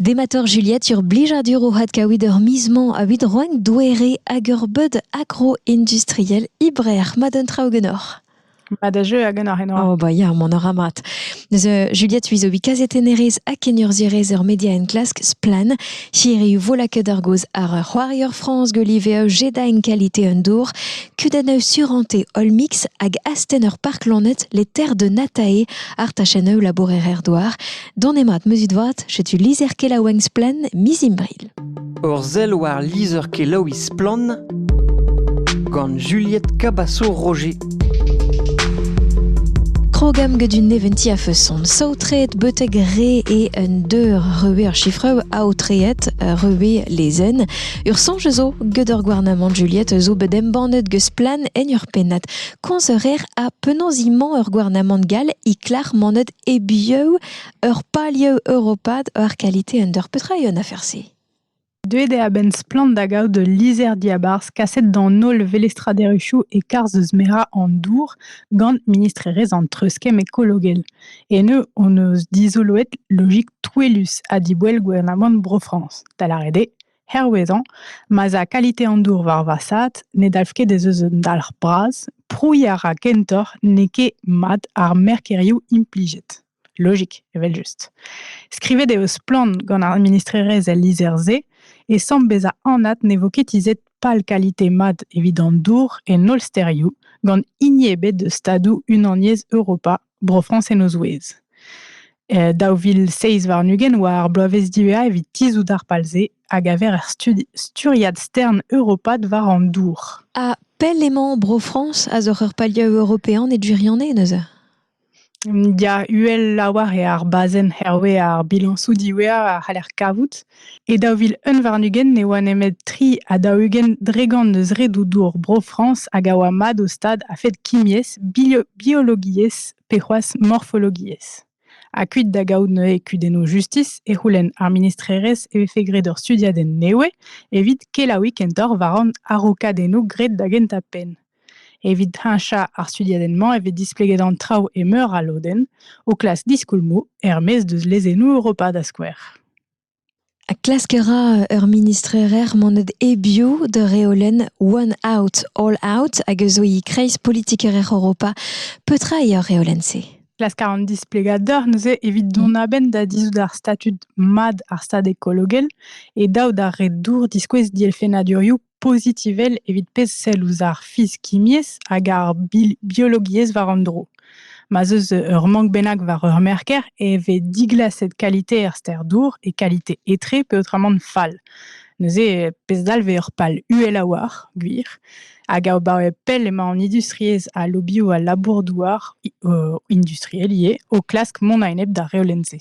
Dematoc'h Juliette sur blijadur o had kaout ur miz-mañ a-vid roenn doere hag ur beud agro-industriel ibreac'h ma d'un traoù genoc'h. Ma da jeu a genoc'h eno. Oh ba ya, mon ora mat. Neus Juliette uizo bi kazetennerez ha kenurzhierez ur media enklask splan. Hiriv vola ket ar goz ar c'hoarier France Golive e jeda en qualité un dour. Kudenn surante All Mix hag asten ur park lanet les terres de Natae ar tachenn labourer er doar. Don mat meuzit vat, setu lizher-kelaouenn Splen miz Imbril. Ur sell war lizher-kelaouiñ Splan gant Juliette Cabasso-Roger. Krogam get un neventi a feuson. Saotreet betek re e un deur reue ar chiffre aotreet reue lezen. Ur sonj zo get ur gouarnamant Juliette zo bet embannet get Splan en ur pennat. Konz a reer ha penaos imañ ur gouarnamant gall i klar manet E-biou ur palioù europat war kalite un dor petra eo an afer-se? Deuet eo a-benn Splann da gaout ul lizher-diabarzh kaset d'an holl velestraderezhioù e-karzh eus merañ an dour gant ministrerezh an treuzkemm ekologel. Eno hon eus dizoloet logik touellus ha diboell gouarnamant Bro-Frañs, da lâret eo hervezañ, ma'z a kalite an dour war vasaat ne dalv ket ez eus un dalc'h bras, prouiñ a ra kentoc'h n'eo ket mat ar merkerioù implijet. Logik, evel-just. Skrivet eo splann gant ar ministrerezh el lizher-se e samm bezañ anat ne vo ket tizhet pal kalite mat evit an dour en holl stêrioù, gant hini ebet eus stadoù Unaniezh Europa Bro-Frañs en o zouez. E daou vil seizh warn-ugent oa ar bloavezh diwezhañ evit tizhout ar pal-se a gaver er studi sturiad stern europat war an dour. Ha pell emañ Bro-Frañs a zoc'h ur palioù european e gwirionez neuze? Ya, uhel lavar eo ar bazenn hervez ar bilañsoù diwezhañ a c'haller kavout. E daou vil unn warn-ugent ne oa nemet tri ha daou-ugent dregont eus redoù dour Bro-Frañs hag a oa mat o stad a-fet kimiezh, biologiezh pe c'hoazh morfologiezh. Ha kuit da gaout neuze kudennoù justis e c'houlenn ar ministrerezh e vefe graet ur studiadenn nevez evit kelaouiñ kentoc'h war an araokadennoù graet da gentañ penn. Evit heñchañ ar studiadenn-mañ e vez displeget an traoù e meur a lodenn, o klask diskoulmoù er-maez deus lezennoù Europa da skouer. Ha klask a ra ur ministrerezh monet hebiou d'ur reolenn One Out, All Out hag a zo e kreiz politikerezh Europa. Petra eo ar reolenn-se? Klask a ran displegadur neuze evit dont a-benn da dizhout ar statud mat ar stad ekologel e daou da re dour diskouez dielfennadurioù pozitivel evit pezh sell ouzh ar fizikiezh hag ar biologiezh war an dro. Ma 'z eus ur mank bennak war ur merker e vez diglaset kalite er ster dour e kalite etre peotramant fall. Neuze, pezh dalv eo ur pal uhel a-walc'h, gwir. Hag abaoe pell emañ an industriezh ha lobioù al labour-douar industriel ivez o klask mont a-enep d'ar reolenn-se.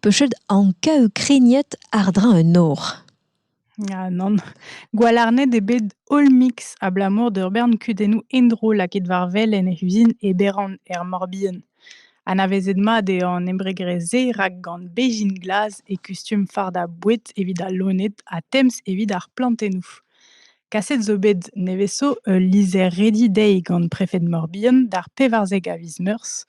pechet anka ukrainiet àr-dreñv un nor. Ya, nann. Gwalarned eo bet holl mix abalamour d'ur bern kudennoù endro lakaet war wel en he uzin Eberon er Morbihan. Anavezet mat eo an embregrezh-se rak gant bezhin glas e kustum fardañ boued evit al loened ha temz evit ar plantennoù. Kaset zo bet nevez-zo ul lizher-redi dezhi gant prefed Mor-Bihan d'ar pevarzek a viz Meurzh,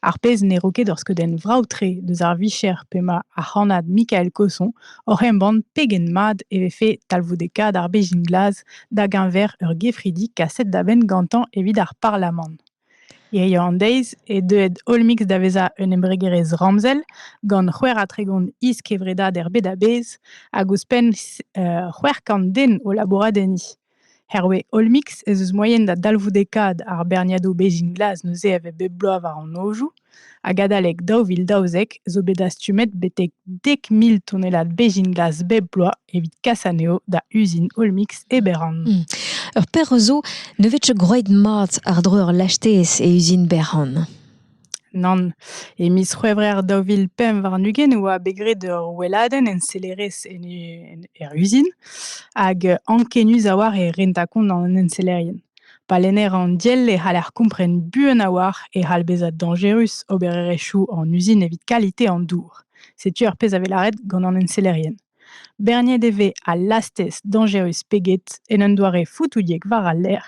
ar pezh ne ro ket ur skeudenn vrav-tre deus ar vicher p'emañ ar c'hannad Mikael Cosson oc'h embann pegen mat e vefe talvoudekaat ar bezhin glas da geñver ur gefridi kaset da benn gantañ evit ar Parlamant. Hiziv an deiz eo deuet Olmix da vezañ un embregerezh ramzel gant c'hwec'h ha tregont is-kevredad er bed a-bezh hag ouzhpenn c'hwec'h kant den o labourat enni. Hervez Olmix ez eus moaien da dalvoudekaat ar berniadoù bezhin glas neuze a vez bep bloaz war an nojoù. Hag adalek daou vil daouzek zo bet dastumet betek dek mil tonnellad bezhin glas bep bloaz evit kas anezho da uzin Olmix e Beran. Hmm. Ur perzh zo ne vefe groet mat àr-dro ur lastez e uzin Beran. Nann. E miz C'hwevrer daou vil pemp warn-ugent e oa bet graet ur weladenn ensellerezh en, en, er uzin hag ankenius a-walc'h e renta kont an ensellerien. Pa lenner an diell e c'haller kompren buan a-walc'h e c'hall bezañ dañjerus obererezhioù an uzin evit kalite an dour. Setu ar pezh a vez lâret gant an ensellerien. Berniet e vez al lastez dañjerus pe get en un doare foutoudiek war al lec'h.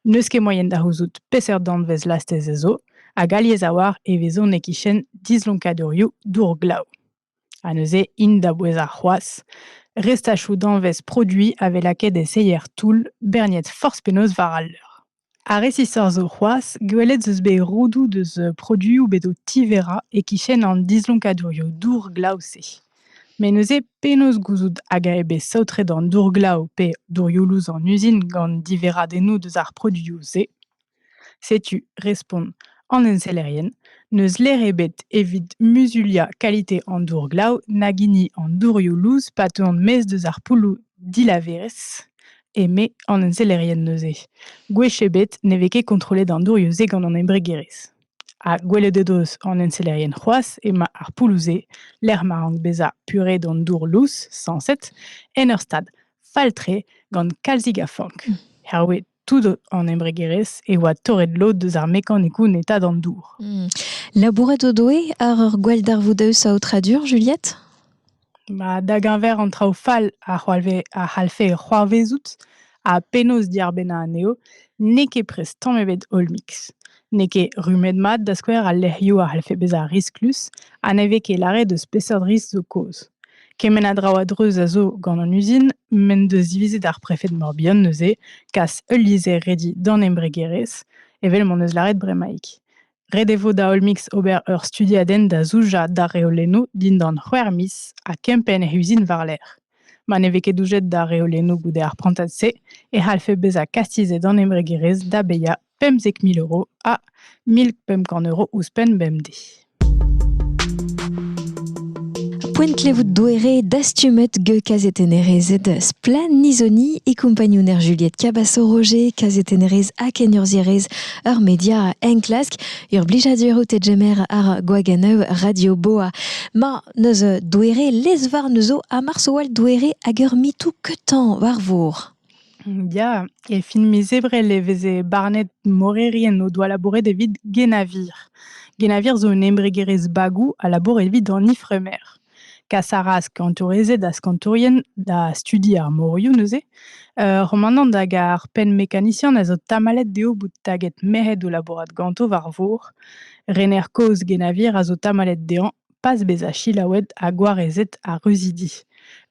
N'eus ket moaien da c'houzout peseurt danvez lastez ez zo, hag alies a-walc'h e vezont e-kichen dislonkadurioù dour glav. Ha neuze int da bouezañ c'hoazh. Restachoù danvez produiñ a vez lakaet e seier-toull berniet forzh penaos war al leur. Ha resisoc'h zo c'hoazh, gwelet 'z eus bet roudoù deus produioù bet o tiverañ e-kichen an dislonkadurioù dour-glav-se. Met neuze penaos gouzout hag eo bet saotret an dour-glav pe dourioù-lous an uzin gant diverradennoù deus ar produioù-se? Setu, respont an ensellerien, n'eus ler ebet evit muzuliañ kalite an dour-glav nag hini an dourioù lous pa teuont maez deus ar poulloù dilaverezh, eme an ensellerien neuze. Gwech ebet ne vez ket kontrollet an dourioù-se gant an embregerezh. Ha gwelet o deus an ensellerien c'hoazh emañ ar poulloù-se, lec'h ma rank bezañ puret an dour lous, sañset, en ur stad fall-tre gant kalzik a fank. Herwez Tout an embregerezh e oa torret lod eus ar mekanikoù netañ d'an dour. Hmm. Labourat o doe àr ur gwalldarvoudaus a aotradur, Juliette ba, Da geñver an traoù fall a c'hoalve- a c'hallfe c'hoarvezout ha penaos diarbennañ anezho, n'eo ket prest tamm ebet holl-mix. n'eo ket rummet-mat, da skouer, al lec'hioù a c'hellfe bezañ risklus ha ne vez ket lâret eus peseurt risk zo kaoz. Kement a draoù a-dreuz a zo gant an uzin m'en deus divizet ar prefed Morbihan neuze kas ul lizher redi d'an embregerezh, evel m'en deus lâret bremaik. Ret e vo da Olmix ober ur studiadenn da zoujañ d'ar reolennoù dindan c'hwec'h miz ha kempenn he uzin war-lerc'h. Ma ne vez ket doujet d'ar reolennoù goude ar prantad-se e c'hallfe bezañ kastizet an embregerezh da bezañ Pemzek mil euro ha mil pemp kant euro ouzhpenn bemdez. Poent klevout doere dastumet ge kazetennerezed Splan Nizoni e kompagnouner Juliette Cabasso-Roger, kazetennerez ha kenurzierez ur media enklask, ur blijadur out e jemer ar Gwaganeu Radio Boa. Ma neus doere lezvar neuzo ha marsoal doere hag ur mitou ketan war vor. Ya, e fin miz Ebrel e veze barnet morerien o doa labouret evit Guénavir. Guénavir zo un embregerezh bagou a labour evit an ifremer. Kas a ra ar skañtourezed ha skañtourien da studi ar morioù neuze. Uh, Romanant hag ar penn-mekanisian a zo tamallet dezho bout taget merc'hed o labourat ganto war vor. Rener kozh Guénavir a zo tamallet dezhañ pas bezañ selaouet ha gwarezet ar ruzidi.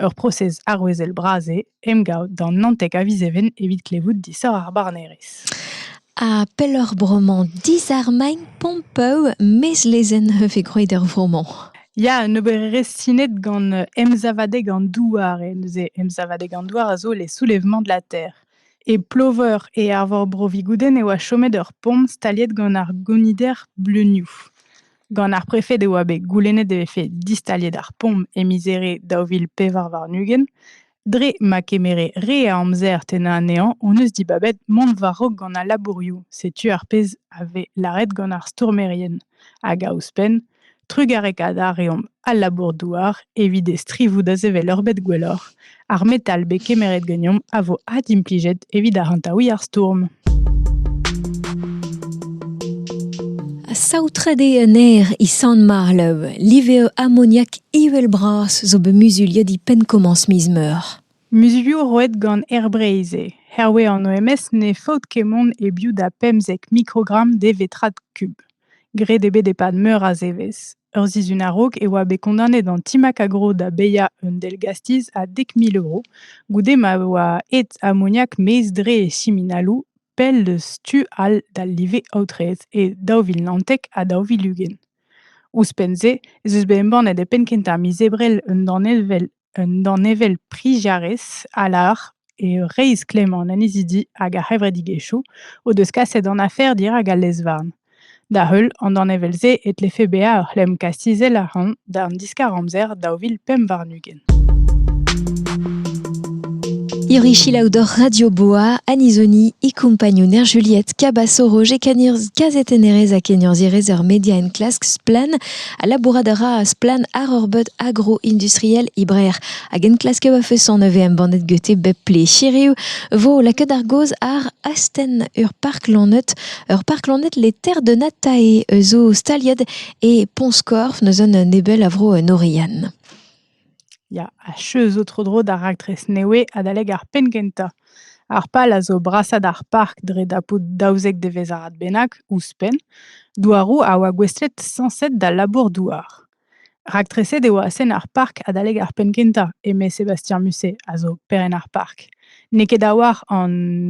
Ur prosez arouezel bras eo emgav d'an Naontek a viz Even evit klevout disoc'h ar barnerezh. Ha pelloc'h bremañ disarmagn Pompeu, mez lezenn e vez gwraet er vro-mañ. Ya, un obererezh sinet gant emsavadeg an douar. E neuze emsavadeg an douar a zo les soulèvements de la terre. E Ploveur e Arvor Bro-Vigoudenn e oa chomet ur pomp staliet gant ar gonider bleunioù. Gant ar prefed e oa bet goulennet e vefe distaliet ar pomp e miz Here daou vil pevar warn-ugent. Dre ma kemere re a amzer tennañ anezhañ hon eus dibabet mont war-raok gant al labourioù. Setu ar pezh a vez lâret gant ar stourmerien. Hag a ouzhpenn, trugarekaat a reomp al labour-douar evit e strivoù da sevel ur bed gwelloc'h. Ar metal bet kemeret ganeomp a vo adimplijet evit arc'hantaouiñ ar stourm. Saotret eo un aer e Sant-Marlev. Live eo amoniak ivel-bras zo bet muzuliet e penn-komañs miz meur. Muzulioù roet gant Air Breizh eo. Hervez an OMS ne faot ket mont e-biou da pemzek mikrogramm de vetrad kub. Graet eo bet e-pad meur a zevezh. Ur sizhun a-raok e oa bet kondaonet an Team Acagro da baeañ un dell-gastiz a dek mil euro, goude ma oa aet amoniak maez-dre e siminaloù pell eus tu all d'al live aotreet e daou vil naontek ha daou vil ugent. Ouzhpenn-se ez eus bet embannet e penn-kentañ miz Ebrel un danevell Un danevell priziarez a lâr eo reizh klemmañ an annezidi hag ar c'hevredigezhioù o deus kaset an afer dirak al lez-varn. Da-heul an danevell-se e tlefe bezañ ur c'hlemm kastizel a-ran d'an diskar-amzer daou vil pemp warn-ugent. Irichilaou d'hor Radio Boa, Anizoni e compagnouner Juliette Cabasso-Roger Canirz, kazetennerez ha keniorzhierez er media enklask Splan Ha labourat a ra splann àr ur beud agro-industriel e Breac'h hag enklasker va feson a vez embannet gete bep ple. Hiriv 'vo lakaet ar gaoz àr astenn ur park lanet, ur park lanet Les Terres de Natae zo staliet e Pont-Skorf, neuze un nebel a vro en Oriane. Ya, achu zo tro-dro d'ar raktres nevez adalek ar penn-kentañ. Ar pal a zo brasañ d'ar park dre dapout daouzek devezh-arad bennak, ouzhpenn, douaroù a oa gouestlet sañset d'al labour-douar. Raktreset eo astenn ar park adalek ar penn-kentañ, eme Sébastien Musset, a zo perenn ar park. N'eo ket a-walc'h an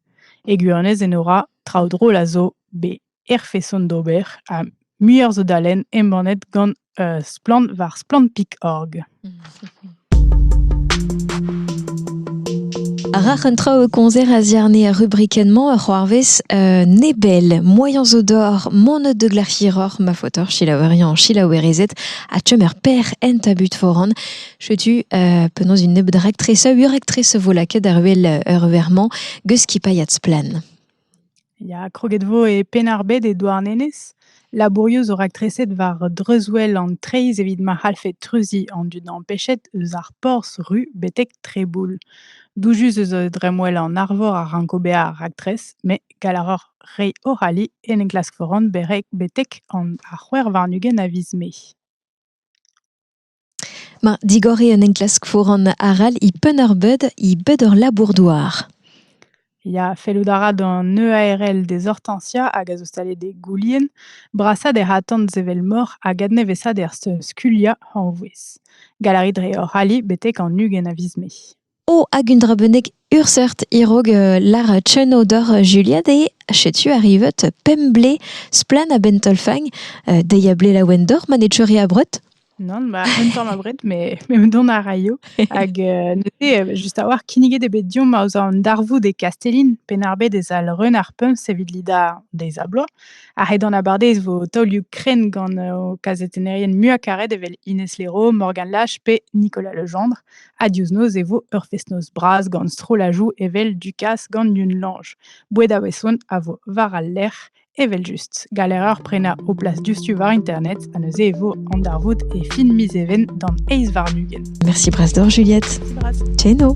E gwirionez Enora, traoù drol a zo bet er feson d'ober ha muioc'h zo da lenn embannet gant Splann war splann.org. Rac'h un traoù e koñzer a ziarne ar rubrikenn-mañ a c'hoarvez euh, nebel, moaien zo d'or, monet de glac'hiroc'h, ma faotoc'h, silaoueriañ, silaouerezed, ha chom er per en tabut foran. Setu euh, penaos un nebeud raktres, ur raktres vo lakaet ar wel ur vermañ geus skipailhat splan. Ya, kroget vo e Penarbed e Douarnenez. Labourioù zo raktreset war dreuzwel an treiz evit ma c'hallfe treuziñ an dud empechet eus ar porzh ru betek Treboul. Doujus eus dremwel an arvor a ranko bezañ ar raktres, met gall a roc'h reiñ o c'halli en enklask foran betek an ar c'hwec'h warn-ugent a viz Mae. Ma digoriñ un enklask foran arall e Penn-ar-Bed eo bet ur labour-douar. Ya, fellout a ra d'an EARL dezortañsiañ hag a zo staliet e Goulien brasañ d'er atant sevel moc'h hag adnevesañ d'er skuliañ hañvouez. Galarit dre hoc'h ali betek an ugent a viz Mae. Oh, hag un dra bennak ur seurt e-raok lar Tcheno doc'h Juliad eo setu arrivet pemp blez splann a-benn taol-fagn. dezhi a ble laouen doc'h ma ne teuri abred Non, bah, un tamm abred, mais, mais dont a raio. Hag euh, neuze, just a-walc'h, kinniget eo bet diomp ouzh an darvoud e Kastellin, pennarbet ez al reun ar pumps evit lidañ deiz a bloaz. Ar ret an abardez vo taolioù krenn gant uh, kazetennerien muiañ karet evel Ines Leroux, Morgan Lash pe Nicolas Legendre. Ha diouzh noz e vo ur fest-noz bras gant strollajoù evel Dukas gant Yunlange. Boued a-weson a vo war al lec'h evel-just. Galereur prenañ ho plas diouzhtu war internet ha neuze e vo an darvoud e fin miz Even d'an eizh warn-ugent. Merci Bras d'or, Juliette. Merci Bras. Tcheno.